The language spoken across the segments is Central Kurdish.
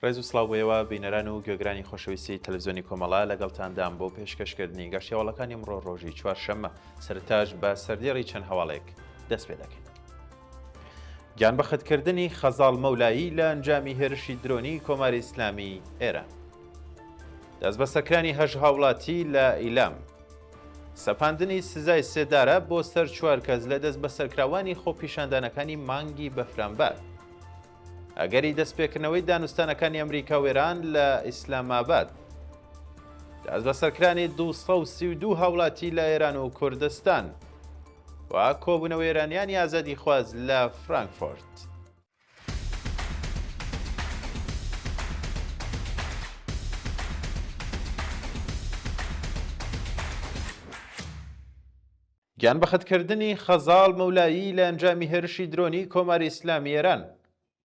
ڕێز و سڵاو بۆ ئێوە بینەران و گوێگرانی خۆشەویستی تەلەڤزیۆنی کۆمەڵە لەگەڵتاندام بۆ پێشکەشکردنی گەشت هەواڵەکانی ئەمڕۆ ڕۆژی چوارشەممە سەرتاش بە سەردێڕی چەند هەواڵێک دەست پێ دەکەین. گیانبەخت کردنی خەزاڵ مەولایی لە ئەنجامی هێرشی درۆنی کۆماری ئیسلامی ئێران. دەست بە سەکرانی هەژ هاوڵاتی لە ئیلام. سەپاندنی سزای سێدارە بۆ سەر چوار کەس لە دەست بە سەرکراوانی خۆپیشاندانەکانی مانگی بەفرانبار. ئەگەری دەستپێکردنەوەی دانوستانەکانی ئەمریکا و ئێران لە ئیسلاماباد. دەست بە سەرکرانی 232 هاوڵاتی لە ئێران و کوردستان. و کۆبوونەوە ئێرانیانی ئازادیخواز لە فرانکفۆرت. گیانبەختکردنی خەزاڵ مەولایی لە ئەنجامی هێرشی درۆنی کۆماری ئیسلامی ئێران.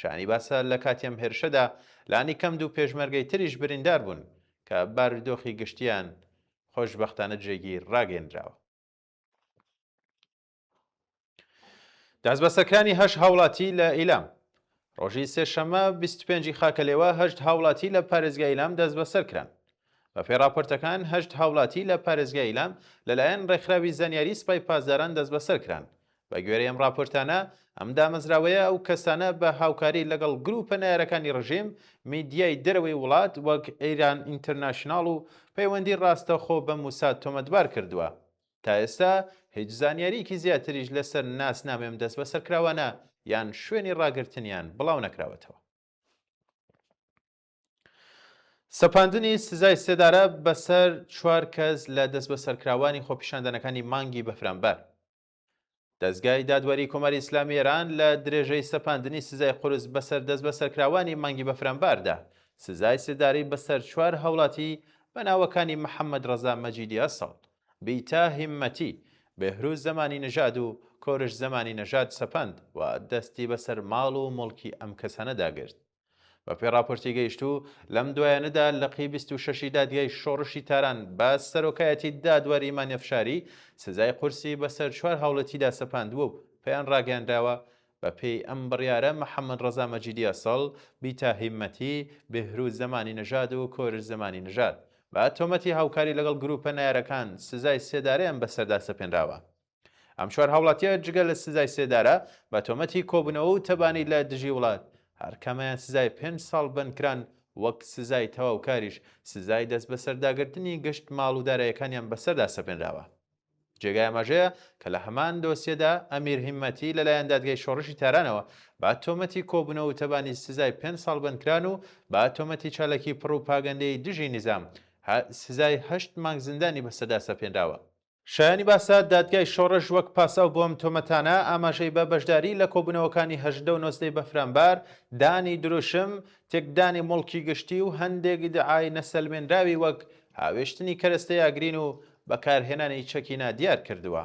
شانی باسە لە کاتی ئەم هێرشەدا لانی کەم دوو پێشمەرگەی تریش بریندار بوون کە بارودۆخی گشتیان خۆشببختانە جێگیر ڕاگەندراوە دەستبەسەکانی هەش هاوڵاتی لە ئیلام ڕۆژی سێشەمە 25 خاکەلێوە هەشت هاوڵاتی لە پارێزگای ئیلام دەست بەسەر کران بە پێ راپۆرتەکان هەشت هاوڵاتی لە پارێزگای ئیلام لەلایەن ڕێکخراوی زانیاری سپای پاسداران دەست بەسەر کران بە گوێرەی ئەم ڕاپۆرتانە، ئەم دامەزراوەیە ئەو کەسانە بە هاوکاری لەگەڵ گرووپە نەیارەکانی ڕژیم، میدیای دەرەوەی وڵات وەک ئیران ئینترناشناڵ و پەیوەندی ڕاستەخۆ بە موساد تۆمەتبار کردووە. تا ئێستا هیچ زانیارییەکی زیاتریش لەسەر ناسنامەی ئەم دەستبەسەرکراوانە یان شوێنی ڕاگرتنیان بڵاو نەکراوەتەوە. سەپاندنی سزای سێدارە بەسەر چوار کەس لە دەستبەسەرکراوانی خۆپیشاندانەکانی مانگی بەفرانبار، دەزگای دادوەری کۆماری ئیسلامی ئێران لە درێژەی سەپاندنی سزای قورس بەسەر دەستبەسەرکراوانی مانگی بەفرانباردا، سزای سێدارەی بەسەر چوار هاوڵاتی بە ناوەکانی محەممەد ڕەزا مەجیدی ئەسڵ، بیتا هیممەتی، بێهرووز زەمانی نەژاد و کۆرش زەمانی نەژاد سەپاند و دەستی بەسەر ماڵ و موڵکی ئەم کەسانەدا گرت. بەپێی ڕاپۆرتی گەیشتوو، لەم دوایانەدا لقی بیست و شەشی دادگای شۆڕشی تاران بە سەرۆکایەتی دادوەر ئیمان ئەفشاری سزای قورسی بەسەر چوار هاوڵەتیدا سەپاندووە و پێیان ڕاگەیانراوە بەپێی ئەم بڕیارە محەمەد ڕەزا مەجیدی ئەسڵ، بیتا هیمەتی، بێهرووز زەمانی نەژاد و کۆرش زەمانی نەژاد بە تۆمەتی هاوکاری لەگەڵ گرووپە نەیارەکان سزای سێدارەیان بەسەردا سەپێنراوە. ئەم چوار هاوڵاتیە جگە لە سزای سێدارە بە تۆمەتی کۆبوونەوە و تەبانی لە دژی وڵات هەرکەمەیان سزای پێنج ساڵ بەندکران وەک سزای تەواوکاریش سزای دەست بەسەرداگرتنی گشت ماڵ و دارایەکانیان بەسەردا سەپێنراوە. جێگای ئاماژەیە کە لە هەمان دۆسیەدا ئەمیر هیمەتی لەلایەن دادگای شۆڕشی تارانەوە بە تۆمەتی کۆبوونەوە و تەبانی سزای پێنج ساڵ بەندکران و بە تۆمەتی چالاکی پڕوپاگەندەی دژی نیزام سزای هەشت مانگ زیندانی بەسەردا سەپێنراوە. شایانی باسە، دادگای شۆڕش وەک پاساو بۆ ئەم تۆمەتانە، ئاماژەی بە بەشداریی لە کۆبوونەوەکانی هەژدە و نۆزدەی بەفرانبار، دانی دروشم، تێکدانی موڵکی گشتی و هەندێک ئیدعای نەسەلمێنراوی وەک هاوێشتنی کەرەستەی ئاگرین و بەکارهێنانی چەکی نادیار کردووە.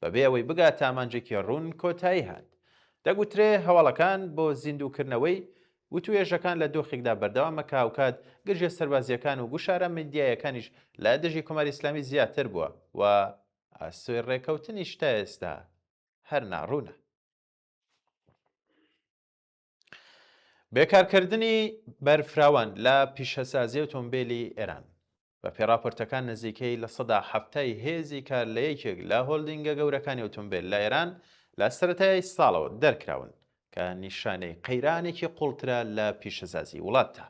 بەبێ ئەوەی بگاتە ئامانجێکی ڕوون کۆتایی هات. دەگوترێ هەواڵەکان بۆ زیندووکردنەوەی وتووێژەکان لە دۆخێکدا بەردەوامە کە هاوکات گرژییە سەربازییەکان و گوشارە میدیاییەکانیش لە دژی کۆماری ئیسلامی زیاتر بووە و ئاسۆی ڕێکەوتنیش تا ئێستا هەر ناڕوونە. بێکارکردنی بەرفراوان لە پیشەسازی ئۆتۆمبیلی ئێران بە پێڕاپۆرتەکان نزیکەی لە سەدا هەفتای هێزی کار لە یەکێک لە هۆلدینگە گەورەکانی ئۆتۆمبیل لە ئێران لە سەتای ساڵەوە دەرکراون کە نیشانەی قەیرانێکی قوڵترە لە پیشەسازی وڵاتدا.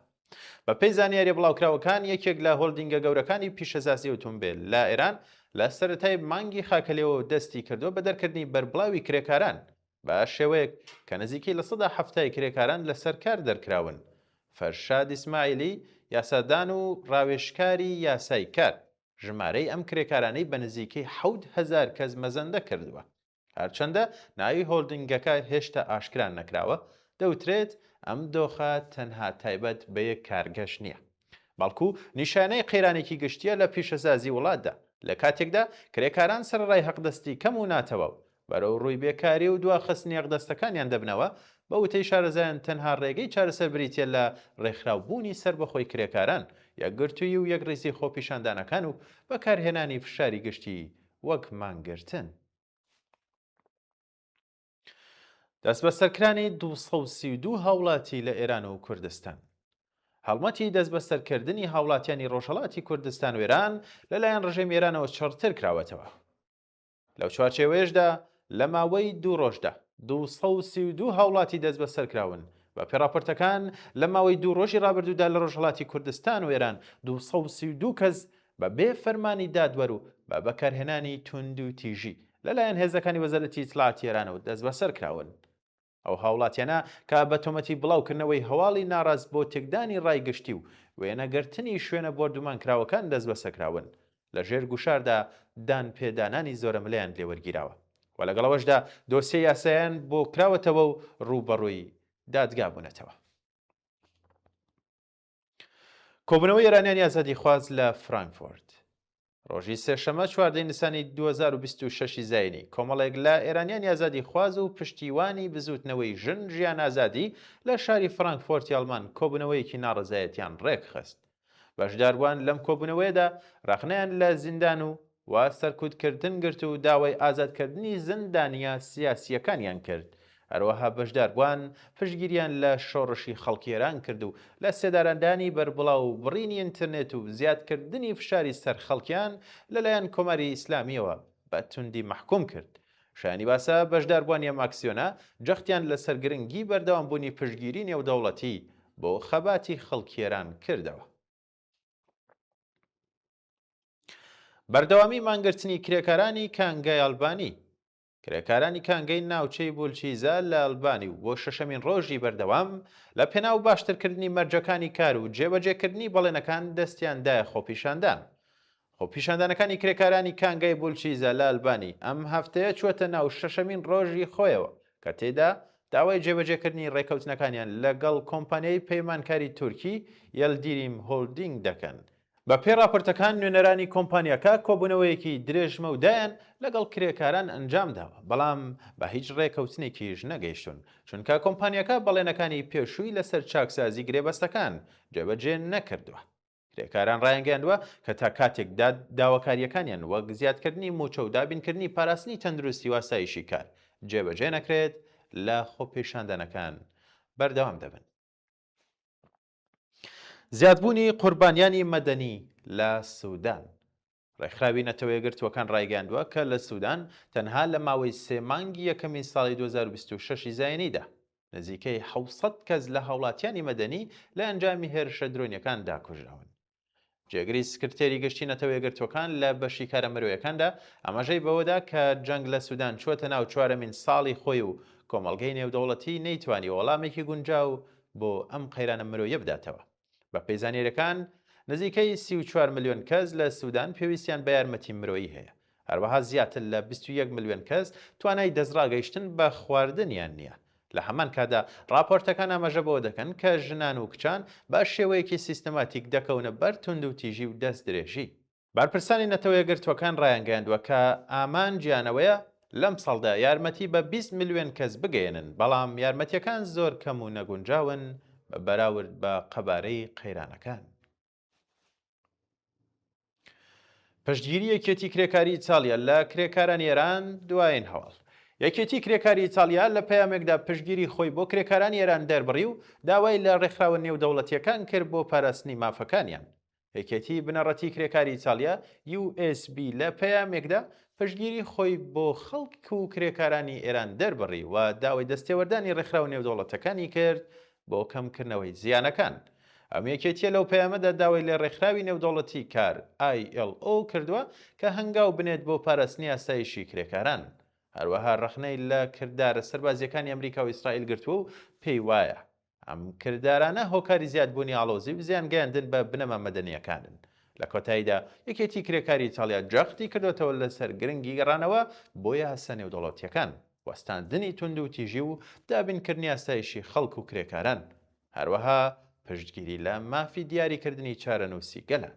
بە پێی زانیاری بڵاوکراوەکان یەکێک لە هۆلدینگە گەورەکانی پیشەسازی ئۆتۆمبیل لە ئێران لە سەتای مانگی خاکەلێەوە دەستی کردو بە دەرکردنی بەربڵاوی کرێکاران بە شێوەیەک کە نزیکەی لە سەدا حەفتای کرێکاران لەسەر کار دەرکراون. فەرشاد ئیسماعیلی، یاسادان و راوێژکاری یاسای کار، ژمارەی ئەم کرێکارانەی بە نزیکەی حەوت هەزار کەس مەزەندە کردووە. هەرچەندە ناوی هۆلدنگەکە هێشتا ئاشکرا نەکراوە، دەوترێت ئەم دۆخە تەنها تایبەت بە یەک کارگەش نییە. بەڵکو نیشانەی قەیرانێکی گشتییە لە پیشەسازی وڵاتدا، لە کاتێکدا کرێکاران سەرەڕای هەقدەستی کەم و ناتەواو، بەرەو رووی بێکاری و دواخستنی هەقدەستەکانیان دەبنەوە، بە وتەی شارەزایان تەنها رێگەی چارەسەر بریتییە لە رێکخراو بوونی سەربەخۆی کرێکاران، یەکگرتوویی و یەکڕیزی خۆپیشاندانەکان و بەکارهێنانی فشاری گشتی وەک مانگرتن. دەستبەسەرکرانی دوو سەد و سی و دوو هاوڵاتی لە ئێران و کوردستان. هەڵمەتی دەستبەسەرکردنی هاوڵاتیانی ڕۆژهەڵاتی کوردستان و ئێران لەلایەن ڕژێمی ئێرانەوە چڕتر کراوەتەوە. لەو چوارچێوەیەشدا لە ماوەی دوو ڕۆژدا 232 هاوڵاتی دەست بەسەر کراون بە پێڕاپۆرتەکان لە ماوەی دوو ڕۆژی ڕابردوودا لە ڕۆژهڵاتی کوردستان و ئێران 232 کەس بە بێ فەرمانی دادوەر و بە بەکارهێنانی توندوتیژی لە لایەن هێزەکانی وەزارەتی ئیتلاعاتی ئێرانەوە دەستبەسەر کراون. ئەو هاوڵاتیانە کە بە تۆمەتی بڵاو کردنەوەی هەواڵی ناڕاست بۆ تێکدانی ڕای گشتی و وێنە گرتنی شوێنە بۆردومان کراوەکان دەستبەسەر کراون لە ژێر گوشاردا دان پێ دانانی زۆرەملێیان لێ وەرگیراوە و لەگەڵ ئەوەشدا دۆسیە یاسایان بۆ کراوەتەوە و ڕووبەڕووی دادگا بوونەتەوە. کۆبنەوەی ئێرانیانی ئازادی خواز لە فرانکفۆرد ڕۆژی سێشەمە چواردەی نیسانی 2026 زینی کۆمەڵێک لە ئێرانیان یازادی خواز و پشتیوانی بزوتنەوەی ژن ژیان ئازادی لە شاری فرانکفۆرت یاڵمان کۆبنەوەیەکی ناڕزایەتیان ڕێکخست بەشداربووان لەم کۆبوونەوەیەدا ڕخنیان لە زیندان و و سەرکوتکردن گرت و داوای ئازادکردنی زیندانییە سیاسییەکانیان کرد، هەروەها بەشداربووان پشتگیریان لە شۆڕشی خەڵکی ئێران کرد و لە سێدارەدانی بەربڵاو و بڕینی ئینترنێت و زیادکردنی فشاری سەر خەڵکیان لەلایەن کۆماری ئیسلامییەوە بە توندی مەحکووم کرد. شایانی باسە، بەشداربووانی ئەم ئاکسیۆنە جەختیان لەسەر گرنگی بەردەوامبوونی پشتگیری نێودەوڵەتی بۆ خەباتی خەڵکی ئێران کردەوە. بەردەوامی مانگرتنی کرێکارانی کانگای ئەلبانی کرێکارانی کانگەی ناوچەی بولچیزە لە ئەلبانی و بۆ شەشەمین ڕۆژی بەردەوام لە پێناو باشترکردنی مەرجەکانی کار و جێبەجێکردنی بەڵێنەکان دەستیاندایە خۆپیشاندان خۆپیشاندانەکانی کرێکارانی کانگای بولچیزە لە ئەلبانی، ئەم هەفتەیە چووەتە ناو شەشەمین ڕۆژی خۆیەوە، کە تێیدا داوای جێبەجێکردنی ڕێکەوتنەکانیان لەگەڵ کۆمپانیای پەیمانکاری تورکی یەلدیریم هۆلدینگ دەکەن. بەپێی ڕاپۆرتەکان، نوێنەرانی کۆمپانیاکە کۆبوونەوەیەکی درێژمەودایان لەگەڵ کرێکاران ئەنجامداوە، بەڵام بە هیچ ڕێکەوتنێکیش نەگەیشتوون، چونکە کۆمپانیاکە بەڵێنەکانی پێشووی لەسەر چاکسازی گرێبەستەکان جێبەجێ نەکردووە. کرێکاران ڕایانگەیاندووە کە تا کاتێک داد داواکارییەکانیان وەک زیادکردنی مووچە و دابینکردنی پاراستنی تەندروستی و ئاسایشی کار جێبەجێ نەکرێت لە خۆپیشاندانەکان بەردەوام دەبن. زیادبوونی قوربانیانی مەدەنی لە سودان. ڕێکخراوی نەتەوە یەکگرتووەکان ڕایگەیاندووە کە لە سوودان تەنها لە ماوەی سێ مانگی یەکەمی ساڵی دوو هەزار و بیست و شەش ی زایینیدا، نزیکەی حەوت سەد کەس لە هاوڵاتیانی مەدەنی لە ئەنجامی هێرشە درۆنییەکان دا کوژراون. جێگری سکرتێری گشتی نەتەوە یەکگرتووەکان لە بەشی کارە مرۆیەکاندا ئاماژەی بەوەدا کە جەنگ لە سوودان چووەتە ناو چوارەمین ساڵی خۆی و کۆمەڵگەی نێودەوڵەتی نەیتوانیوە وەڵامێکی گونجاو بۆ ئەم قەیرانە مرۆییە بداتەوە. بە پێی زانیاریەکان نزیکەی سی و چوار ملیۆن کەس لە سوودان پێویستیان بە یارمەتی مرۆیی هەیە هەروەها زیاتر لە 21 ملیۆن کەس توانای دەستڕاگەیشتن بە خواردنیان نییە لە هەمان کادا راپۆرتەکان ئاماژە بەوە دەکەن کە ژنان و کچان بە شێوەیەکی سیستەماتیک دەکەونە بەر توندوتیژی و دەست درێژی بەرپرسانی نەتەوەیەکگرتووەکان ڕایانگەیاندووە کە ئامانجیان ئەوەیە لەمساڵدا یارمەتی بە بیست ملیۆن کەس بگەیەنن، بەڵام یارمەتییەکان زۆر کەم و نەگونجاون بە بەراورد بە قەبارەی قەیرانەکان. پشتگیری یەکێتی کرێکاری ئیتاڵیا لە کرێکارانی ئێران، دوایین هەواڵ. یەکێتی کرێکاری ئیتاڵیا لە پەیامێکدا پشتگیری خۆی بۆ کرێکارانی ئێران دەربڕی و داوای لە ڕێکخراوە نێودەوڵەتییەکان کرد بۆ پاراستنی مافەکانیان. یەکێتی بنەڕەتی کرێکاری ئیتاڵیا، USB، لە پەیامێکدا پشتگیری خۆی بۆ خەڵک و کرێکارانی ئێران دەربڕی و داوای دەستێوەردانی ڕێکخراوە نێودەوڵەتەکانی کرد بۆ کەمکردنەوەی زیانەکان. ئەم یەکێتییە لەو پەیامەدا داوای لە ڕێکخراوی نێودەوڵەتی کار، ILO، کردووە کە هەنگاو بنێت بۆ پاراستنی ئاسایشی کرێکاران. هەروەها ڕەخنەی لە کردارە سەربازییەکانی ئەمریکا و ئیسرائیل گرتووە و پێی وایە، ئەم کردارانە هۆکاری زیادبوونی ئاڵۆزی و زیان گەیاندن بە بنەما مەدەنییەکانن. لە کۆتاییدا، یەکێتی کرێکاری ئیتاڵیا جەختی کردۆتەوە لەسەر گرنگی گەڕانەوە بۆ یاسا نێودەوڵەتییەکان، وەستاندنی توندوتیژی و دابینکردنی ئاسایشی خەڵک و کرێکاران، هەروەها پشتگیری لە مافی دیاریکردنی چارەنووسی گەلان.